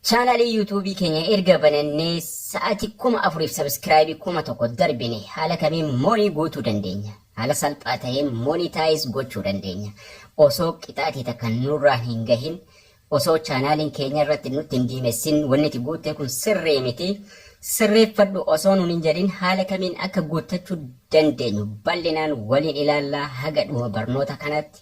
Chaanaalii yuutuubii keenya erga banannee sa'aatii kuma afuriif sabiskiraayibii kuma tokko darbine haala kamiin moonii guutuu dandeenya? Haala salphaa ta'een moonitaayiz gochuu dandeenya. Osoo qixaatii takka nurraan hin gahin osoo chaanaaliin keenya irratti nutti hin diimessin wanni ati guuttee kun sirrii miti sirreeffadhu osoo nuun hin jedhin haala kamiin akka guuttachuu dandeenyu bal'inaan waliin ilaallaa haga dhuma barnoota kanaatti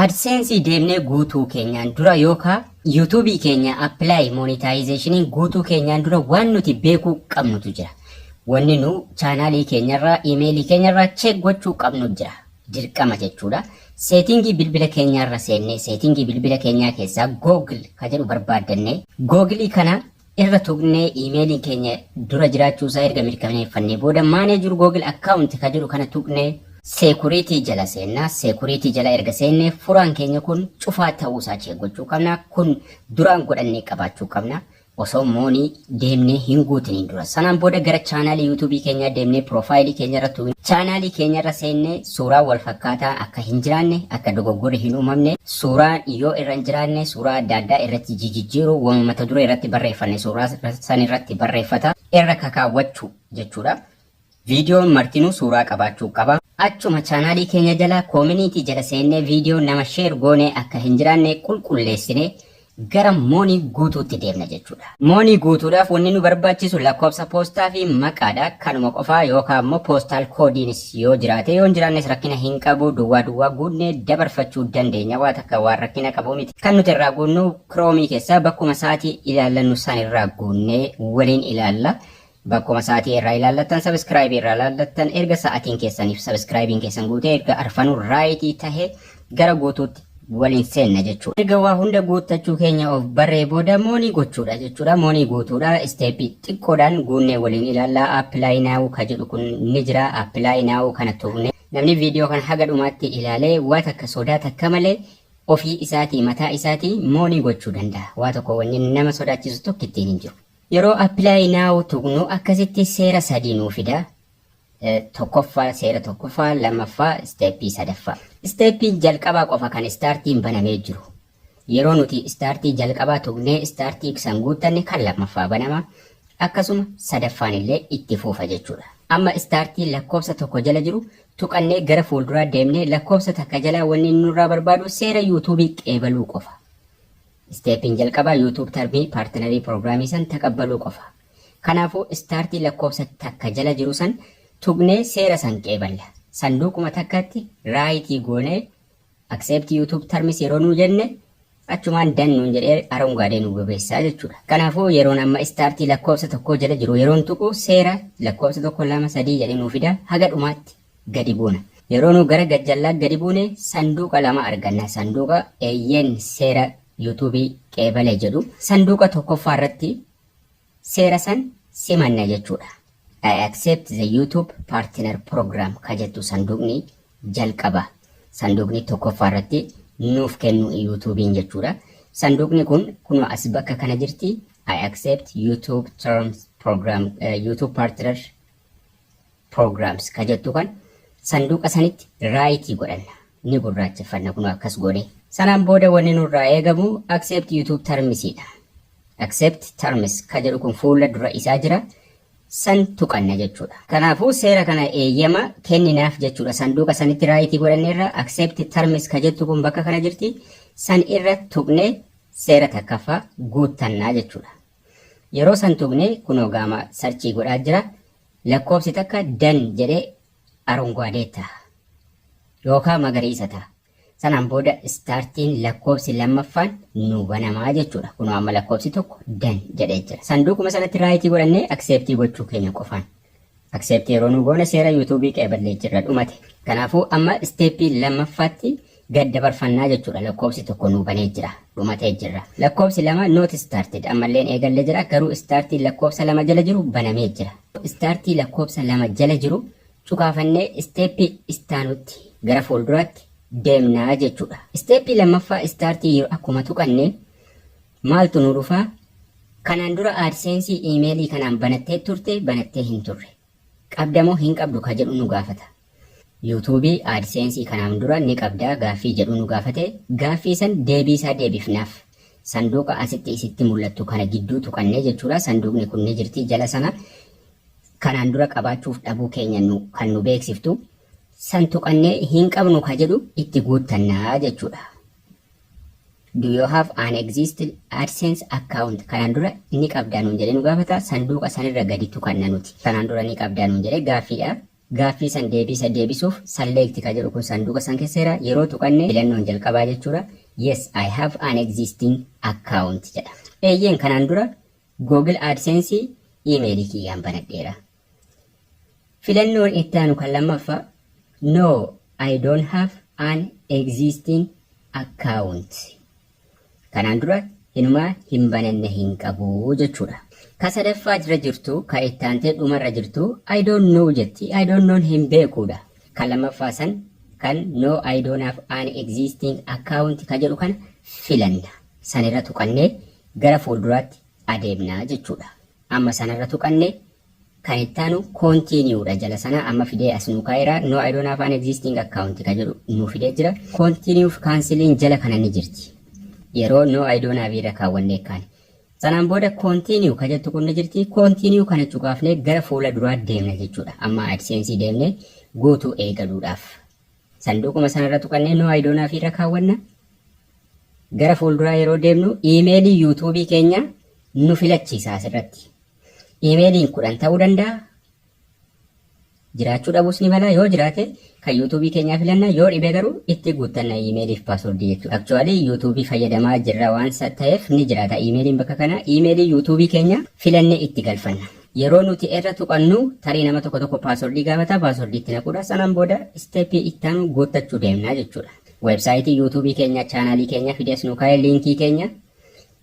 Adsense deemnee guutuu keenyaan dura yookaa YouTube keenya apply monetization guutuu keenyaan dura waan nuti beekuu qabnutu jira. Wanni nu chaanaalii keenyarraa imeelii keenyarraa check gochuu qabnu jira. Dirqama jechuudha. Seetingii bilbila keenyaarra seennee seetingii bilbila keenyaa keessaa Google ka jedhu barbaaddannee Google kana irra tuqnee iimeeliin keenya dura jiraachuu isaa erga mirkaneeffannee booda manage google account ka jedhu kana tuqnee security jala seenna security jala erga seenne furaan keenya kun cufaa ta'uu isaa check gochuu qabna kun duraan godhannee qabaachuu qabna osoo moonii deemnee hin guutiniin dura sanaan booda gara chaanaalii yuutuubii keenyaa deemnee piroofaayilii keenya irra tuqne chaanaalii keenya irra seennee Suuraan wal fakkaataa akka hin jiraanne, akka dogoggorri hin uumamne, suuraan yoo irra hin jiraanne suuraa adda addaa irratti jijijjiiru, wama mata duree irratti barreeffanne suuraa san irratti barreeffata. Irra kakaawwachuu jechuudha. Viidiyoon martinuu suuraa qabaachuu qaba. Achuma chaanaalii keenya jala koominiitii jala seennee viidiyoo nama sheer goone akka hin jiraanne qulqulleessine gara moonii guutuutti deemna jechuudha. Moonii guutuudhaaf wanni nu barbaachisu lakkoofsa poostaa fi maqaadha. Kanuma qofaa yookaan immoo poostaal koodiinis yoo jiraate yoo hin jiraannes rakkina hin qabu duwwaa duwwaa guunnee dabarfachuu dandeenya waa takka waan rakkina qabu miti. Kan nuti irraa guunnu kiroomii keessaa bakkuma sa'aatii ilaallannu san irraa guunnee waliin ilaalla. Bakkuma sa'atii irraa ilaallattan subscribe irraa ilaallattan erga sa'atiin keessaniif subscribe'n keessan guutee erga arfanuu raayitii tahe gara guutuutti waliin seenna jechuudha. Erga waa hunda guuttachuu keenya of barree booda moonii gochuudha jechuudha. Moonii guutuudha. Isteeppii xiqqoodhaan guunnee waliin ilaallaa. Apply now ka jedhu kun ni jira. Apply now kana tuqne. Namni viidiyoo kana haga dhumaatti ilaalee waa takka sodaa takka malee ofii isaatii mataa isaatii moonii gochuu danda'a. Waa tokko wanni nama sodaachisu tokkittiin hin jiru. Yeroo apply now tuqnu akkasitti seera sadii nuu fida. Tokkoffaa seera tokkoffaa, lammaffaa isteeppii sadaffaa. Isteeppiin jalqabaa qofa kan istaartiin banamee jiru. Yeroo nuti istaartii jalqabaa tuqnee istaartii san guuttanne kan lammaffaa banama. Akkasuma sadaffaan illee itti fuufa jechuudha. Amma istaartii lakkoofsa tokko jala jiru tuqannee gara fuulduraa deemnee lakkoofsa takka jalaa wanni inni nurraa barbaadu seera yuutuubii qeebaluu qofa. Step'n jalqabaa YouTube Termii Partnerii Program san taqabbaluu qofa. Kanaafu Start lakkoofsa takka jala jiru san tuqnee seera san qeeballa. Sanduuquma takkatti Right goonee Accept YouTube Terms yeroo nuu jenne achumaan Done nuun jedhee arongaadee nuu bobeessa jechuudha. Kanaafu yeroon amma Start lakkoofsa tokkoo jala jiru yeroon tuqu seera lakkoofsa tokko lama sadii jedhee nuu fida haga dhumaatti. gadi buuna. Yeroo nu gara gajjallaa gadi buune sanduuqa lama arganna. Sanduuqa Eeyyeen Seera Yuutuubii Qeebale jedhu. Sanduuqa tokkoffaa irratti seera san simanna jechuudha. I accept the YouTube partner program ka jettu sanduuqni jalqaba. Sanduuqni tokkoffaa irratti nuuf kennu Yuutuubiin jechuudha. Sanduuqni kun kunoo as bakka kana jirti. I accept YouTube terms program, eh, YouTube partner programs ka jettu kan sanduuqa sanitti raayitii godhanna ni gurraacheffanna kun akkas goone sanaan booda wanni nurraa eegamu accept youtube terms dha accept terms ka jedhu kun fuula dura isaa jira san tuqanna jechuudha kanaafuu seera kana eeyyama kenninaaf jechuudha sanduuqa sanitti raayitii godhanneerra accept terms ka jettu kun bakka kana jirti san irra tuqne seera takkaffaa guuttannaa jechuudha Yeroo san tuqne kunoo gaama sarchii godhaa jira lakkoofsi takka dan jedhe arunguadee taha yookaa magariisa taha sanaan booda istaartiin lakkoofsi lammaffaan nuu banamaa jechuudha kunoo amma lakkoofsi tokko dan jedhee jira sanduuquma sanatti raayitii godhannee akseeptii gochuu keenya qofaan Accept yeroo nu goone seera YouTube qeeballee jirra dhumate. Kanaafuu amma step lammaffaatti gad dabarfannaa jechuudha lakkoofsi tokko nuu banee jira dhumatee jirra lakkoofsi lama not started ammalleen eegallee jira garuu startii lakkoofsa lama jala jiru banamee jira startii lakkoofsa lama jala jiru cukaafannee isteeppii istaanutti gara fuulduraatti deemnaa jechuudha isteeppii lammaffaa startii yeroo akkuma tuqanneen Maaltu nu dhufa? Kanaan dura AdSense email kanaan banattee turte banattee hin turre. Qabda moo hin qabdu ka jedhu nu gaafata. YouTube AdSense kanaan dura ni qabdaa gaaffii jedhu nu gaafate. Gaaffii san deebii isaa deebifnaaf. Sanduuqa asitti isitti mul'attu kana gidduu tuqannee jechuudha. Sanduuqni kun ni jirti jala sana. Kanaan dura qabaachuuf dhabuu keenya nu, kan nu beeksiftu. San tuqannee hin qabnu ka jedhu itti guuttannaa jechuudha. Do you have an existing AdSense account? Kanaan dura ni qabdaa nuun jedhee nu gaafata. Sanduuqa sanirra gadi tuqanna nuti. Kanaan dura ni qabdaa nuun jedhee gaaffiidha. Gaaffii san deebiisa deebisuuf select ka jedhu kun sanduuqa san keessa jira. Yeroo tuqanne filannoon jalqabaa jechuudha. Yes, I have an existing account jedha. Eeyyeen kanaan dura Google AdSense iimeelii kiyyaan banadheera. Filannoon itti aanu kan lammaffaa No, I don't have an existing account. Kanaan dura inumaa hin bananne hin qabu jechuudha. Ka sadaffaa jira jirtu ka itti aantee dhumarra jirtu I don't know jetti. I don't known hin beekuudha. Kan lammaffaa san kan No, I don't have an existing account ka jedhu kana filanna. Sanirra tuqannee gara fuulduraatti adeemna jechuudha. Amma sana irra tuqanne. Kan itti aanu continue dha jala sana amma fidee as nuu kaa'eera. No I don't have an existing account ka jedhu nuu fidee jira. Continue fi cancelin jala kana ni jirti. Yeroo no I don't have irra kaawwannee kaane. Sanaan booda continue ka jettu kun ni jirti. Continue kana cuqaafnee gara fuula duraa deemna jechuudha. Amma AdSense deemnee guutuu eegaluudhaaf. Sanduuquma sanarra tuqannee No I don't have irra kaawwanna. Gara fuulduraa yeroo deemnu iimeelii yuutuubii keenya nu filachiisa asirratti. Iimeeliin kudhan ta'uu danda'a. Jiraachuu dhabuus ni mala yoo jiraate kan yuutuubii keenyaa filanna yoo dhibe garuu itti guuttanna iimeeliif paaswordii jechuudha. Aktuwaalii yuutuubii fayyadamaa jirra waan ta'eef ni jiraata iimeeliin bakka kana iimeelii yuutuubii keenya filannee itti galfanna. Yeroo nuti erra tuqannu tarii nama tokko tokko password gaafata password itti naquudha sanaan booda step itti aanu guuttachuu deemna jechuudha. Website YouTube keenya channel keenya fidees nu kaa'e link keenya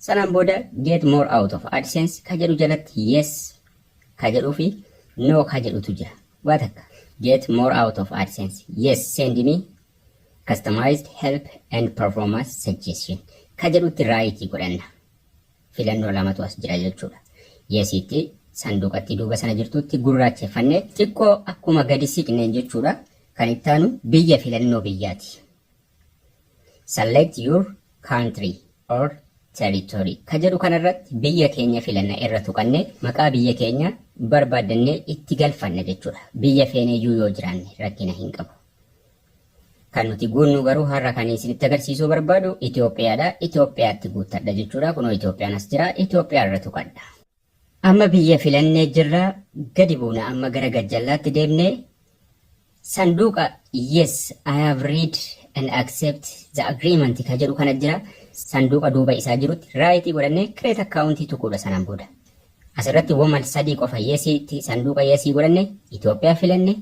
sanaan booda get more out of AdSense ka jedhu jalatti yes ka jedhuu fi no ka jedhutu jira. Waa takka get more out of AdSense yes send me customized help and performance suggestion ka jedhutti right godhanna. filannoo lamatu as jira jechuudha. Yesiitti sanduuqatti duuba sana jirtutti gurraacheffanne xiqqoo akkuma gadi siqneen jechuudha. Kan ittaanu biyya filannoo biyyaati. Select your country or territory ka jedhu kanarratti biyya keenya filanna irra tuqanne maqaa biyya keenya barbaaddannee itti galfanna jechuudha. Biyya feeneeyyuu yoo jiraanne rakkina hin qabu. Kan nuti guunnu garuu har'a kan isinitti agarsiisuu barbaadu Itoophiyaadha. Itoophiyaatti guuttadha jechuudha. Kunoo Itoophiyaan as jira. Itoophiyaa irra tuqadha. Amma biyya filannee jirra. Gadi buuna amma gara gajjallaatti deemnee sanduuqa yes I have read and accept the agreement ka jedhu kana jira. Sanduuqa duuba isaa jirutti raayitii godhannee create account tuquudha sanaan booda. Asirratti woman sadii qofa yesiitti sanduuqa yesii godhanne Itoophiyaa filanne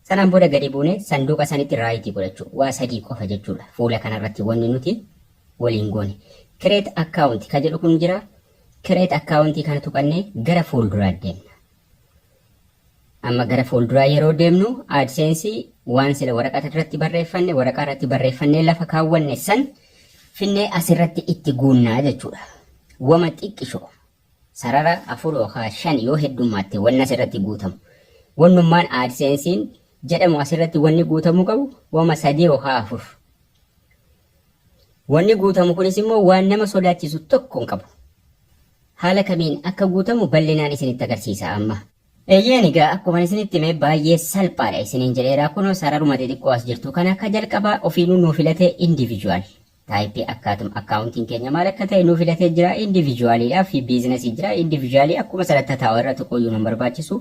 Sanaan booda gadi buunee sanduuqa sanitti raayitii godhachuu. Waa sadii qofa jechuudha. Fuula kanarratti wanni nuti waliin goone. Create account ka jedhu kun jira. Create account kana tuqannee gara fuulduraa deemna. Amma gara fuulduraa yeroo deemnu AdSense waan sila waraqaa irratti barreeffanne waraqaa irratti barreeffannee lafa kaawwanne san finnee asirratti itti guunnaa jechuudha. Wama xiqqishoo Sarara 4 yookaan 5 yoo heddummaatte wanni asirratti guutamu. Wannummaan AdSense'n jedhamu asirratti wanni guutamuu qabu wama 3 yookaan 4. Wanni guutamu kunis immoo waan nama sodaachisu tokko hin qabu. Haala kamiin akka guutamu bal'inaan isinitti agarsiisa amma. Eeyyeen egaa akkuman isinitti hime baay'ee salphaadha isiniin jedheera. Kunoo sararuma xixiqqoo as jirtu kana ka jalqabaa ofiinuu nuu filate individual. Type akkaatum accounting keenya maal akka ta'e nuu filatee jira individually dha fi business jira individually akkuma sanatti taa'u irra tuquyyuu nun barbaachisu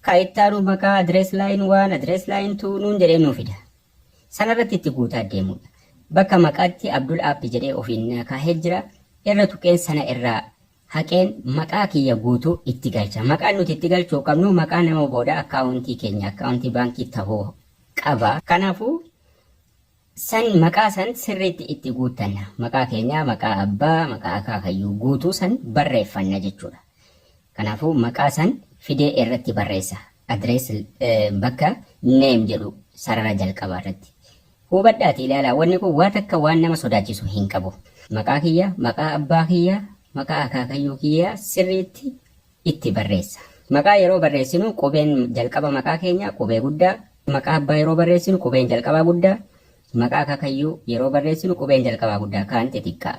ka ittaanu maqaa address line 1 address line 2 nuun jedhee nuu fida sanarratti itti guutaa deemuudha bakka maqaatti abdul app jedhee ofiin naa kaahee jira irra tuqeen sana irraa haqeen maqaa kiyya guutuu itti galcha maqaan nuti itti galchuu qabnu maqaa nama booda akkaawuntii keenya akkaawuntii baankii ta'uu qaba kanaafuu San maqaa san sirriitti itti guuttanna. Maqaa keenya, maqaa abbaa, maqaa akaakayyuu guutuu san barreeffanna jechuudha. Kanaafuu maqaa san fidee irratti barreessa. Address bakka name jedhu sarara jalqabaa irratti. Hubadhaati ilaalaa wanni kun waa takka waan nama sodaachisu hin qabu. Maqaa kiyya, maqaa abbaa kiyya, maqaa akaakayyuu kiyya sirriitti itti barreessa. Maqaa yeroo barreessinu qubeen jalqaba maqaa keenyaa qubee guddaa, maqaa abbaa yeroo barreessinu qubeen jalqabaa guddaa, maqaa akaakayyuu yeroo barreessinu qubeen jalqabaa guddaa kaan xixiqqaa.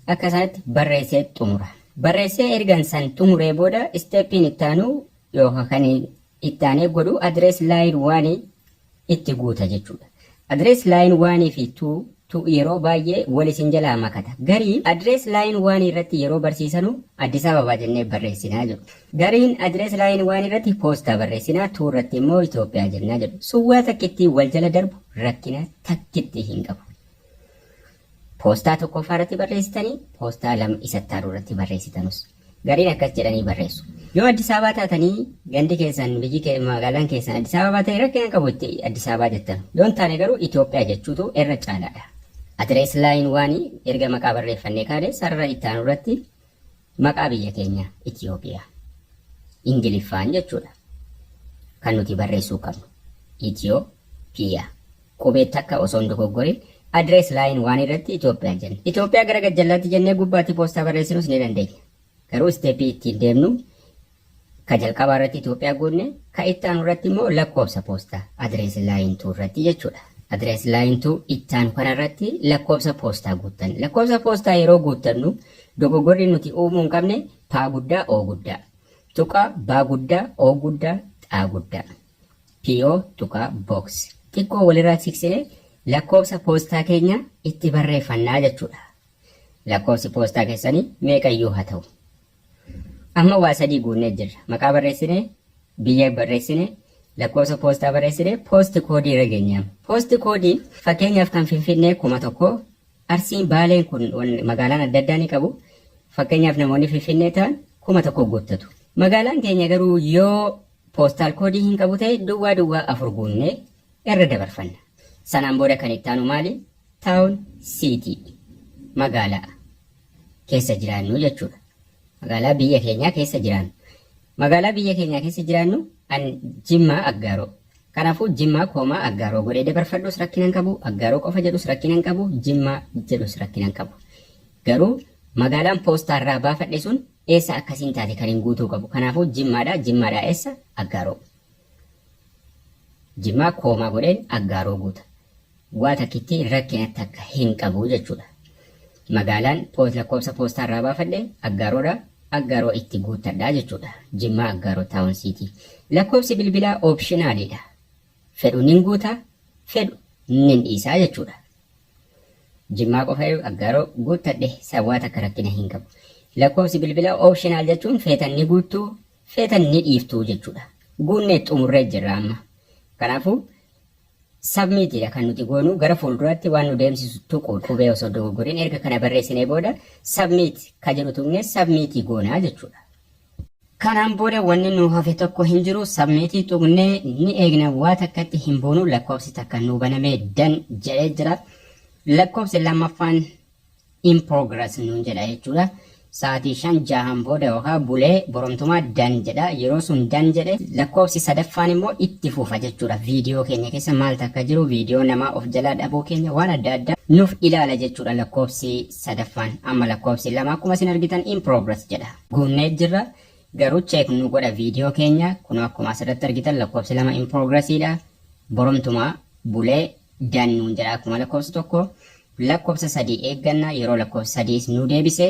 Akka isaatti barreessee xumura. Barreessee ergan san xumuree booda isteeppiin itti aanu yookaan kan itti aanee godhu address line one itti guuta jechuudha. Address line one fi two tu yeroo baay'ee wal isin jalaa makata. Garii address line one irratti yeroo barsiisanu Addis Ababa jennee barreessina jedhu. Gariin address line one irratti Poostaa barreessina, two irratti immoo Itoophiyaa jenna jedhu. Sun waa takka ittiin wal jala darbu rakkina takkitti hin qabu. Poostaa tokkoffaa irratti barreessitanii, poostaa lama isa itti aanu irratti barreessitanus. Gariin akkas jedhanii barreessu. Yoo Addis Ababaa taatanii gandi keessan, biyyi kee, magaalaan keessan Addis Ababaa ta'e rakkina hin qabu itti Addis Ababaa jettan. Yoo hin taane garuu Itoophiyaa jechuutu irra caalaadha. Address line one erga maqaa barreeffannee kaane sarara itti aanu irratti maqaa biyya keenya Itoophiya Ingiliffaan jechuudha kan nuti barreessuu qabnu Itoophiya. Qubee takka osoo hin dogoggorin address line waan irratti Itoophiyaa jenna. Itoophiyaa gara gajjallaatti jennee gubbaatti poostaa barreessinus ni dandeenya. Garuu step ittiin deemnu ka jalqabaa irratti Itoophiyaa goonne ka itti aanu irratti immoo lakkoofsa poostaa address line 2 irratti jechuudha. Address line 2 itti aanu kana irratti lakkoofsa poostaa guuttanna. Lakkoofsa poostaa yeroo guuttannu dogoggorri nuti uumuu hin qabne paa guddaa oo guddaa. Tuqaa baa guddaa oo guddaa xaa guddaa. PO Box Box xiqqoo walirraa siqsinee lakkoofsa poostaa keenya itti barreeffanna jechuudha. Lakkoofsi poostaa keessanii meeqayyuu haa ta'u. Amma waa sadii guunnee jirra. Maqaa barreessinee, biyya barreessine, lakkoofsa poostaa barreessine, poosti koodii irra geenyaam. Poosti koodiin fakkeenyaaf kan Finfinnee kuma tokko, Arsiin Baaleen kun magaalaan adda addaa ni qabu. Fakkeenyaaf namoonni Finfinnee ta'an kuma tokko guuttatu. Magaalaan keenya garuu yoo Postal code hin qabu ta'e duwwaa duwwaa 4 guunnee irra dabarfanna. Sanaan booda kan itti aanu maali? Town, city, magaalaa keessa jiraannu jechuudha. Magaalaa biyya keenyaa keessa jiraannu. Magaalaa biyya keenyaa keessa jiraannu an Jimmaa Aggaaroo. Kanaafuu Jimmaa koomaa Aggaaroo godhee dabarfadhus rakkina hin qabu, Aggaaroo qofa jedhus rakkina hin qabu, Jimmaa jedhus rakkina hin qabu. Garuu magaalaan poostaarraa baafadhe sun Eessa akkasiin taate kan hin guutuu qabu. Kanaafuu jimmaadha. Jimmaadhaa eessa? Aggaaroo. Jimmaa koomaa godheen aggaaroo guuta. Waa takkitti rakkina takka hin qabu jechuudha. Magaalaan poos lakkoofsa poostaa irraa baafadhe aggaaroodha. Aggaaroo itti guuttadha jechuudha. Jimmaa aggaaroo taawun siitii. Lakkoofsi bilbilaa oopshinaaliidha. Fedhu nin guuta, fedhu nin dhiisaa jechuudha. Jimmaa qofayu Aggaaroo guuttadhe sawwaa takka rakkina hin qabu. Lakkoofsi bilbilaa optional jechuun feetan ni guuttu feetan ni dhiiftu jechuudha. Guunnee xumurree jirra amma. Kanaafuu submit dha kan nuti goonu gara fuulduraatti waan nu deemsisu tuquun qubee osoo dogoggoriin erga kana barreessinee booda submit ka jedhu tuqnee submit goona jechuudha. Kanaan booda wanni nuu hafe tokko hin jiru submit tuqnee ni eegna waa takkatti hin boonu lakkoofsi takka nuu banamee dan jedhee jira lakkoofsi lammaffaan in progress nuun jedha jechuudha sa'aatii shan jahan booda yookaan bulee boromtumaa dan jedha yeroo sun dan jedhe lakkoofsi sadaffaan immoo itti fufa jechuudha viidiyoo keenya keessa maal takka jiru viidiyoo namaa of jalaa dhabuu keenya waan adda addaa nuuf ilaala jechuudha lakkoofsi sadaffaan amma lakkoofsi lama akkuma isin argitan in progress jedha. Guunnee jirra garuu check nu godha video keenya kunoo akkuma asirratti argitan lakkoofsi lama in progress dha borumtuma bulee dan nuun jedha akkuma lakkoofsi tokko lakkoofsa sadii eegganna yeroo lakkoofsi sadiis nu deebise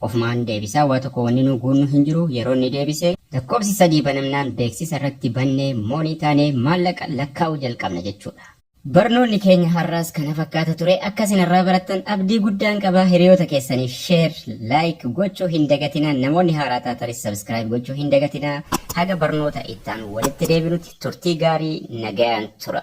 ofumaan deebisaa waa tokko wanni nu guunnu hin jiru yeroo inni deebise lakkoofsi sadii banamnaan beeksisa irratti bannee moonii taanee maallaqa lakkaa'uu jalqabna jechuudha. Barnoonni keenya har'aas kana fakkaata ture. Akka isin irraa barattan abdii guddaan qaba. Hiriyoota keessaniif share, like gochuu hin dagatinaa. Namoonni haaraa taatanis subscribe gochuu hin dagatinaa. Haga barnoota itti aanu walitti deebinutti turtii gaarii nagayaan tura.